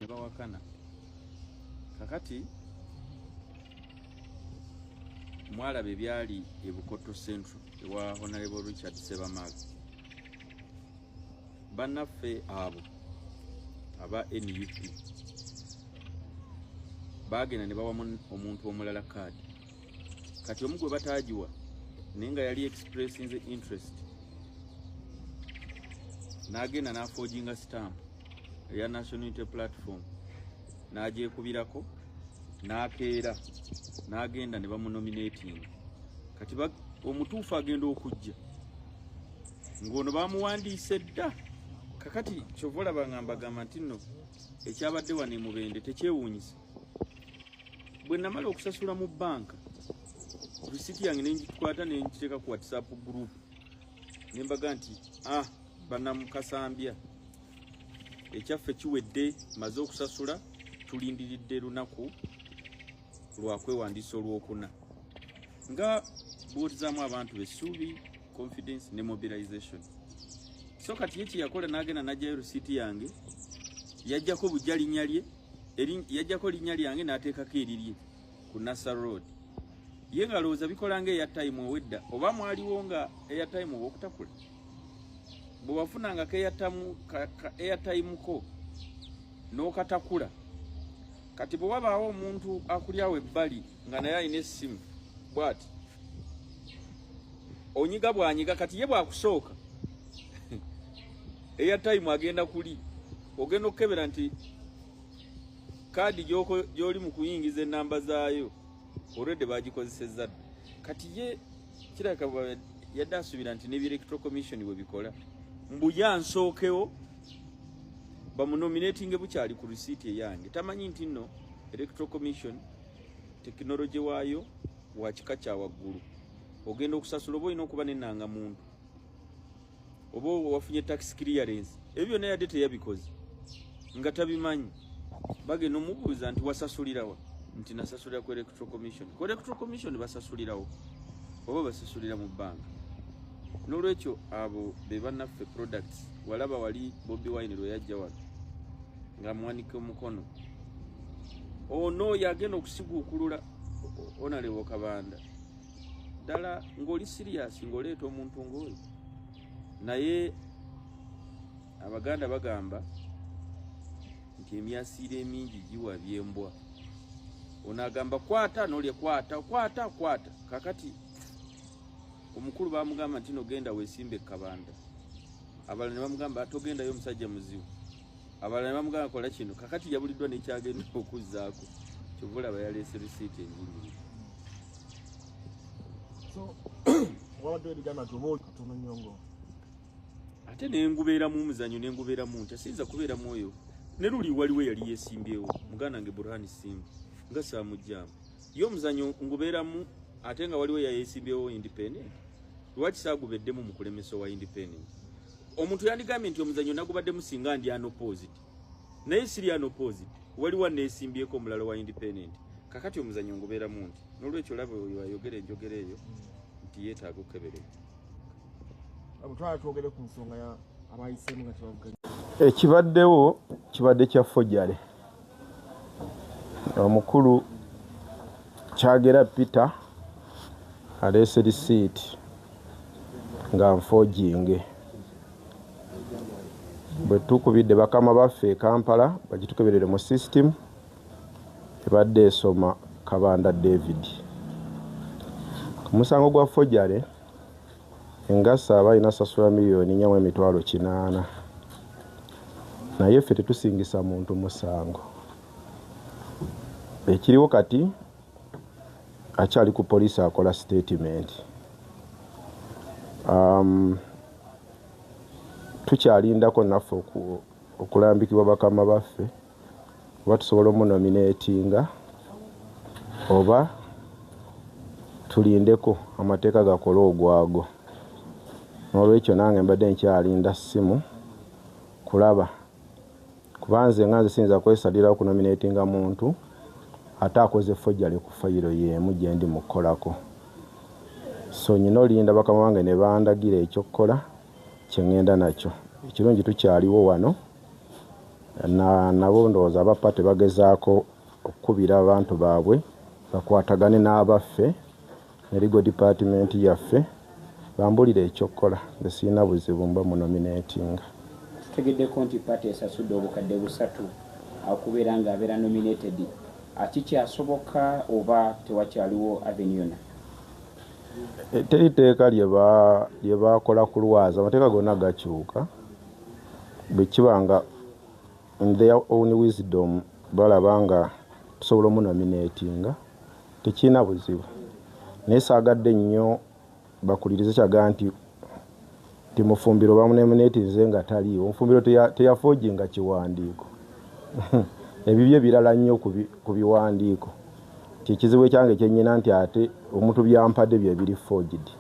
ne bawakana kakati mwalaba ebyali e bukoto central ewa honorable richard sebamaga bannaffe abo aba nup baagenda ne bawamu omuntu omulala kaadi kati omu gwe bataagiwa naye nga yali expressing the interest n'agenda n'afoginga stampu eya national unity platform n'agyekubirako n'akeera n'agenda ne bamunominating kati omutuufu agenda okujja ng'ono bamuwandiise dda kakati kyova olaba nga mbagamba nti nno ekyabadde wano emubende tekyewuunyisa bwe namala okusasula mu bbanka risiti yange nengikwata nengiteeka ku whatsapp group nembaga nti ah banamukasambya ekyaffe kiwedde maze okusasula tulindiridde lunaku lwakwewandiisa olwokuna nga buurizaamu abantu besuubi confidence ne mobilization so kati ye kyeyakola nagenda najjayo risiiti yange yajjako bujja linya lye yajjako linya lyange nateekako erirye ku Nasser Road ye nga lowooza bikola nga eya time owedda oba mwaliwo nga eya time owokutakula bwe wafunanga ka eya time ko n'okatakula kati bwe wabaawo omuntu akulyawo ebbali nga naye alina essimu bwati onyiga bwanyiga kati ye bwakusooka eya time agenda kuli ogenda okukebera nti kaadi gy'oli mu kuyingiza ennamba zaayo olwedde bagikozesezza dda kati ye kiraka yadde asuubira nti nebi electro commission bwe bikola mbuya nsookewo bamunominatinge bukyali ku risiiti eyange tamanyi nti nno electro commission tekinologi waayo wakika kya waggulu ogenda okusasula oba olina okuba nenanga muntu oba wafunye tax clearance ebyo byonna yadde teyabikoze nga tabimanyi bagenda omubuuza nti wasasulirawa nti nasasulira ku electoral commission ku electoral commission basasulirawo oba basasulira mu bbanga n'olwekyo abo be banaffe products walaba wali bobi wine lwe yajja wano nga mwanika omukono ono oh, yagenda okusiguukulula onalewo kabanda ddala ng'oli siriyasi ng'oleeta omuntu ng'oyo naye abaganda bagamba nti emyasiiro emingi giwa byembwa ono agamba kwata nolye kwata kwata kwata kakati omukulu bamugamba nti nogenda wesimbe ekabanda abalala ne bamugamba togendayo omusajja muzibu abalala ne bamugamba kola kino kakati yabuliddwa nekyagenda okuzzaako kyova olaba yaleese risiiti enjingiri ate nengubeeramu omuzanyo nengubeeramu ntya siyinza kubeeramu oyo ne luli waliwo eyali yesimbyewo muganda nge burhani simbu nga saamujjaamu yo omuzanyo ngubeeramu ate nga waliwo yayesimbyewo independent lwaki saagubeddemu mu kulemesa owa independent omuntu yandigambye nti omuzanyo nagubaddemu singa ndi anoposed naye siri anoposed waliwo aneesimbyeko omulala wa independent kakati omuzanyo ngubeeramu nti n'olwekyo laba oyo ayogera enjogera eyo nti yeetaaga okukeberera abutwala twogere ku nsonga ya abayisemu nga kibavuganya ekibaddewo kibadde kya fojale omukulu kyagera peter aleese lisiiti nga nfoginge bwe tukubidde bakama baffe e kampala bagitukeberere mu system ebadde esoma kabanda david ku musango gwa fojare Engasa aba alina sasula miliyoni nya mu emitwalo kinaana naye ffe tetusingisa muntu musango. Ekiriwo kati akyali ku poliisi akola sitetimenti. Um, tukyalindako naffe okulambikibwa bakama baffe. oba tusobola omunomineetinga oba tulindeko amateeka gakole ogwago n'olwekyo nange mbadde nkyalinda ssimu kulaba kuba nze nga nze siyinza kwesalirawo kunomineetinga muntu ate akoze fojjale ku fayiro y'emu gye ndi mu kukolako so nyina olinda bakama bange ne bandagira ekyokukola kye ŋŋenda nakyo ekirungi tukyaliwo wano na nabo ndowooza abappa tebagezaako okukubira abantu baabwe bakwatagane n'abaffe ne ligo dipatimenti yaffe bambulire ekyokukola nze sirina buzibu mba munomineetinga tutegeddeko nti pati esasudde obukadde busatu okubeera nga abeera nominated akikyasoboka oba tewakyaliwo aveni yona eh, teri teeka lye baakola kulwaza amateeka gonna gakyuka bwekiba nga in their own wisdom balaba nga tusobola omunominatinga tekirina buzibu naye saagadde nnyo bakulirize kyaga nti ti mufumbiro bamunominatinze nga taliiwo mufumbiro teyafoojinga kiwandiiko ebibye birala nnyo ku biwandiiko kyekizibu ekyange kyenyina nti ate omuntu byampadde byebiri foojidi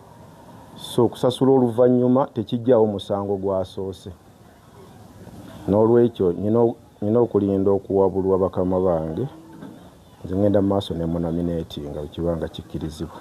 So okusasula oluvannyuma tekiggyaawo musango gwasoose. N'olwekyo nnina okulinda okuwabulwa bakama bange, nze ngenda mu maaso ne munomineetinga bwe kiba nga kikkirizibwa.